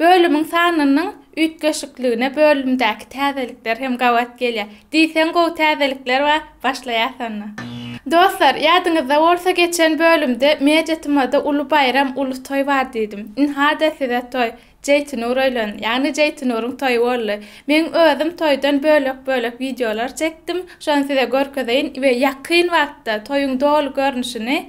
Bölümiň sanynyň üýtgeşikligine bölümdäki täzelikler hem gabat gelýär. Diýseň gowy täzelikler bar, başlaýas onda. Dostlar, ýadyňyzda bolsa geçen bölümde Media TM-da uly baýram, uly toý bar diýdim. Ynha-da size toý, Jeýtinur öýlendi, ýagny Jeýtinuryň toýy boldy. Meň özüm toýdan bölek-bölek wideolar çekdim, şony size görkezeýin we ýakyn wagtda toýuň doly görnüşini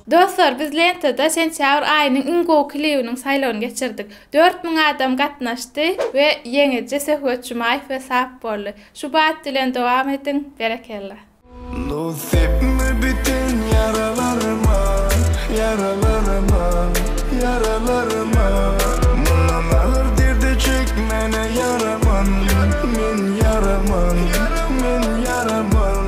Dostlar biz lentada sentýabr aýynyň iň gowy klibiniň saýlawyny geçirdik. Dört müň adam gatnaşdy we ýeňiji Söhbet Jumaýew we Sap boldy. Şu bat bilen dowam ediň. Berekella. Dost sepme biten ýaralaryma, ýaralaryma, ýaralaryma Mundan agyr derdi çekmäne ýaraman, men ýaraman, men ýaraman.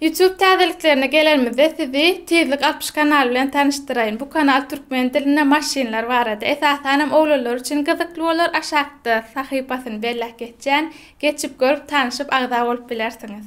Youtube täzeliklerine gelenimizde sizi Tizlik alpyş kanaly bilen tanyşdyraýyn. Bu kanal türkmen dilinde maşynlar barada, esasan hem oglanlar üçin gyzykly bolar. Aşakda sahypasyny belläp geçýän. Geçip görüp, tanyşyp, agza bolup bilersiňiz.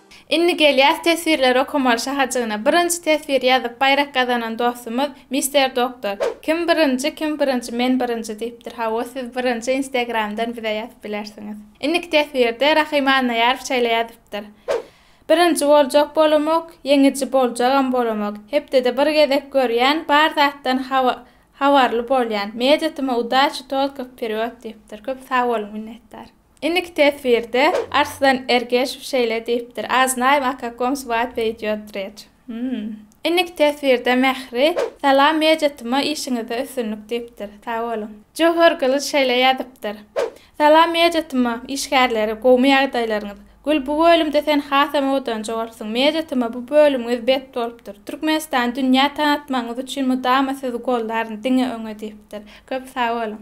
Indi gelýäs teswirleri okamaly şahajygyna. Birinji teswir ýazyp baýrak gazanan dostumyz Mister Doktor. Kim birinji kim birinji men birinji diýipdir. Hawa siz birinji instegramdan bize ýazyp bilersiňiz. Indiki teswirde Rahym Annaýarow şeýle ýazypdyr. Birinji boljak bolamok, ýeňiji boljagam bolamok. Hepdede bir gezek görýän, bar zatdan habarly bolýan. Media tyma udaçi tolko wperýod diýipdir. Köp sag boluň minnetdar. Indiki teswirde Arslan Ergeşew şeýle diýipdir, A znaýym o kakom swatbye idýot reç. Hum. Indiki teswirde Mähri, Salam Mejetuma işiňizde üstünlik diýipdir. Sag boluň. Jöwher Gylyç şeýle ýazypdyr, Salam Mejetuma işgärleri gowmy ýagdaýlaryňyz. Gül bu bölümde sen hasam owadanjy bolupsyň. Mejetuma bu bölümiňiz bet bolupdyr. Türkmenistany dünýä tanatmagyňyz üçin mydama sizi gollaryn, diňe öňe diýipdir. Köp sag boluň.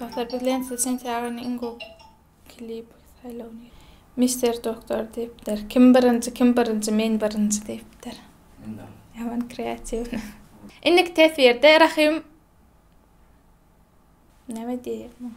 Dostlar biz Lensiz sentýagyny iň gowy klip saýlawyny. Mister Doktor diýipdir. Kim birinji kim birinji men birinji diýipdir. Ýaman kreatiwny. Indiki teswirde Rahym näme diýýär muňa.